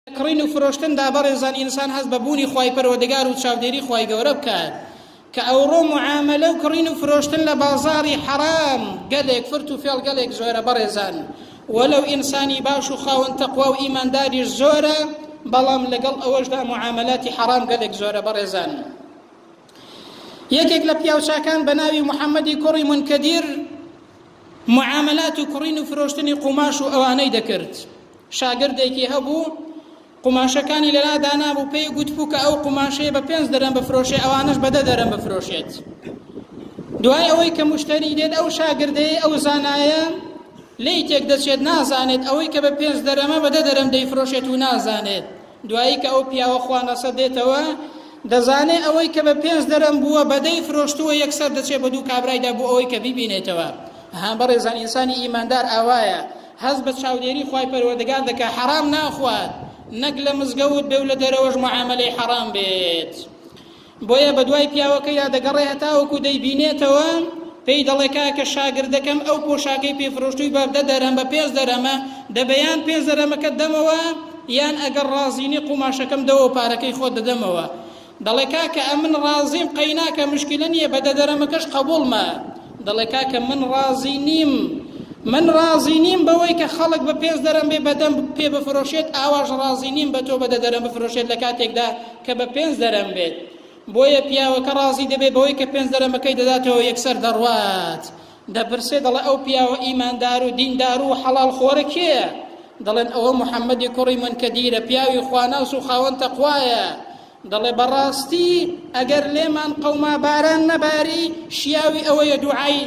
کڕین و فرۆشتن دا بەڕێزان ئینسان هەست بە بوونی خوای پەروەردگار و چاودێری خوای گەورە بکات کە ئەوڕۆ معاملە و کڕین و فرۆشتن لە بازاری حەرام گەلێک فرت و فێڵ گەلێک زۆرە بەڕێزان وەلەو ئینسانی باش و خاوەن تەقوا و ئیمانداریش زۆرە بەڵام لەگەڵ ئەوەشدا معاملاتی حەرام گەلێک زۆرە بەڕێزان یەکێک لە پیاوچاکان بە ناوی محەممەدی کوڕی منکەدیر معاملات و کڕین و فرۆشتنی قوماش و ئەوانەی دەکرد شاگردێکی هەبوو قوماشەکانی لەلا دانابوو پێی گوتبوو کە ئەو قوماشەیە بە پێنج دەرم بفرۆشێ ئەوانش بەدە دەرم بفرۆشێت دوای ئەوەی کە مشتری دێت ئەو شاگردەیە ئەو زانایە لی تێک دەچێت نازانێت ئەوەی کە بە پێنج دەرەمە بەدە دەرم دەیفرۆشێت و نازانێت دوایی کە ئەو پیاوە خوانەسە دێتەوە دەزانێ ئەوەی کە بە پێنج دەرم بووە بەدەی فرۆشتووە یەکسەر دەچێ بە دوو کابرایدا بۆ ئەوەی کە بیبینێتەوە ها بەڕێزان ئینسانی ئیماندار ئاوایە هەز بە چاودێری خی پەروەردگار دەکە حەرام ناخوات نەک لە مزگەوت بێ و لە دەرەوەش معاملەی حەرام بێت. بۆیە بەدوای پیاوەکەیدا دەگەڕێ هەتاوەکو دەیبینێتەوە پێی دەڵێ کاکە شاگردەکەم ئەو پۆشاکەی پێفرۆشتوی بابدە دەرەمە پێز دەرەمە دەبەیان پێز دەرەمەکە دەمەوە یان ئەگەر ڕازینی قوماشەکەم دەوە پارەکەی خۆ دەدەمەوە دەڵێ کاکە ئەمن ڕازیم قەیناکە مشکلە نییە بە دەدەرەمەکەش قبولمە دەڵێ کاکە من ڕازی نیم من ڕازی نیم بەوەی کە خەڵک بە پێز دەرم بێ بەدەم پێ بفرۆشێت ئاواش ڕازی نیم بە تۆ بە دەدەرم بفرۆشێت لە کاتێکدا کە بە پێنج دەرەم بێت، بۆیە پیاوەکە ڕازی دەبێت بەوەی کە پێنج دەرەمەکەی دەداتەوە یەکسەر دەڕوات، دەپرسێت دەڵێ ئەو پیاوە ئیماندار و دیندار و حەڵاڵ خۆرە کێیە؟ دەڵێن ئەوە محەممەدی کوڕی مونکەدیرە پیاوی خواناس و خاوەن تەقوایە، دەڵێ بەڕاستی ئەگەر لێمان قەوما باران نەباری شیاوی ئەوەیە دوعای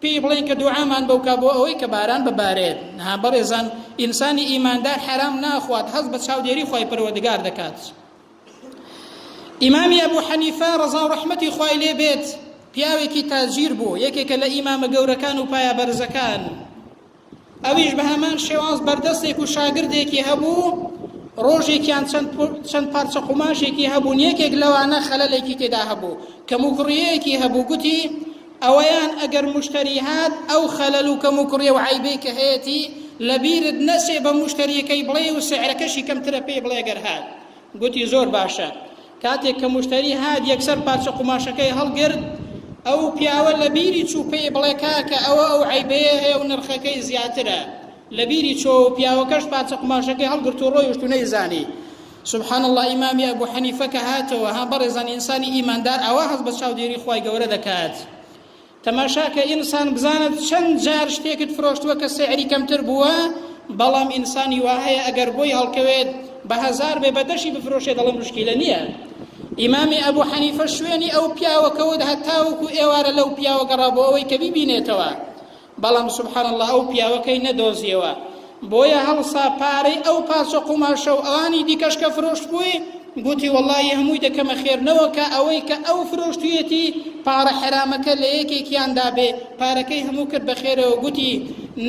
پێی بڵێن کە دوعامان بۆ بکە بۆ ئەوەی کە باران ببارێت. نا بەڕێزان، ئینسانی ئیماندار حەرام ناخوات، هەست بە چاودێری خوای پەروەردگار دەکات. ئیمامی ئەبو حەنیفە ڕەزا و ڕەحمەتی خوای لێ بێت، پیاوێکی تاجیر بوو، یەکێکە لە ئیمامە گەورەکان و پایە بەرزەکان. ئەویش بە هەمان شێواز بەردەستێک و شاگردێکی هەبوو ڕۆژێکیان چەند پارچە قوماشێکی هەبوون یەکێک لەوانە خەلەلێکی تێدا هەبوو کەم و کوڕیەکی هەبوو گوتی ئەوەیان ئەگەر مشتری هات ئەو خەلەل و کەم و کوڕێ و عیبی کە هەیەی لەبیرت نەچێ بە مشتریەکەی بڵێ و سعرەکەشی کەمترە پێی بڵێ گەر هات گوتی زۆر باشە کاتێک کە موشتەری هات یەکسەر پارچە قوماشەکەی هەڵگرت، ئەو پیاوە لە بیری چوو پێی بڵێ کاکە ئەوە ئەو عەیبەیە هەیە و نرخەکەی زیاترە، لە بیری چۆوە و پیاوەکەش پارچە قوماشەکەی هەڵگرت و ڕۆیشت و نەیزانی. سبحان اللە ئیمامی ئەبو حەنیفە کە هاتەوە، ها بەڕێزان ئینسانی ئیماندار ئاوا هەست بە چاودێری خوای گەورە دەکات. تەماشاکە ئینسان بزانە چەند جار شتێکت فرۆشتووە کە سعری کەمتر بووە بەڵام ئینسانی وا هەیە ئەگەر بۆی هەڵکەوێت بە هەزار بێ بەدەشی بفرۆشێت دەڵێ مشکیلە نییە ئیمامی ئەبوو حەنیفە شوێنی ئەو پیاوەکەوت هەتاوەکو ئێوارە لەو پیاوە گەڕا بۆ ئەوەی کە بیبینێتەوە بەڵام سبحان الله ئەو پیاوەکەی نەدۆزیەوە بۆیە هەڵسا پارەی ئەو پارچە قوماشە و ئەوانی دیکەش کە فرۆشتبووی گوتی وەڵی هەمووی دەکەمە خێرنەوە کە ئەوەی کە ئەو فرۆشتویەتی پارە حرامەکە لە یەکێکیاندا بێ پارەکەی هەموو کرد بە خێرەوە گوتی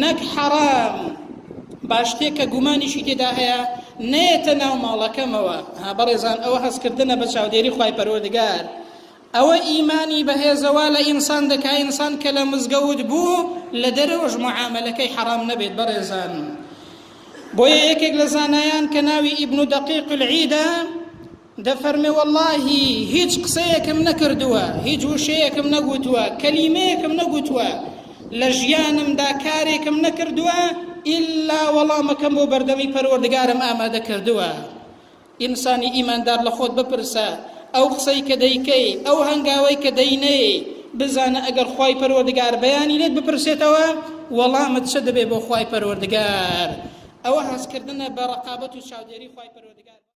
نەک حەرام باشتێک کە گومانیشی تێدا هەیە نەیەتە ناو ماڵەکەمەوە ها بەڕێزان ئەوە هەستکردنە بە چاودێری خی پەروەردگار ئەوە ئیمانی بەهێزە وا لە ئینسان دەکا ئینسان کە لە مزگەوت بوو لە دەرەوەش معامەلەکەی حەرام نەبێت بەڕێزان بۆیە یەکێک لە زانایان کە ناوی ئیبن و دەقیق العیدە دەفەرمێ واللهی هیچ قسەیەکم نەکردووە هیچ وشەیەکم نەگوتووە کەلیمەیەکم نەگوتووە لە ژیانمدا کارێکم نەکردووە ئللا وەڵامەکەم بۆ بەردەمی پەروەردگارم ئامادە کردووە ئینسانی ئیماندار لە خۆت بپرسە، ئەو قسەی کە دەیکەی، ئەو هەنگاوەی کە دەینێی، بزانە ئەگەر خوای پەروەردگار بەیانی لێت بپرسێتەوە وەڵامت چ دەبێ بۆ خوای پەروەردگار، ئەوە هەستکردنە بە رەقابەت و چاودێری خوای پەروەردگار.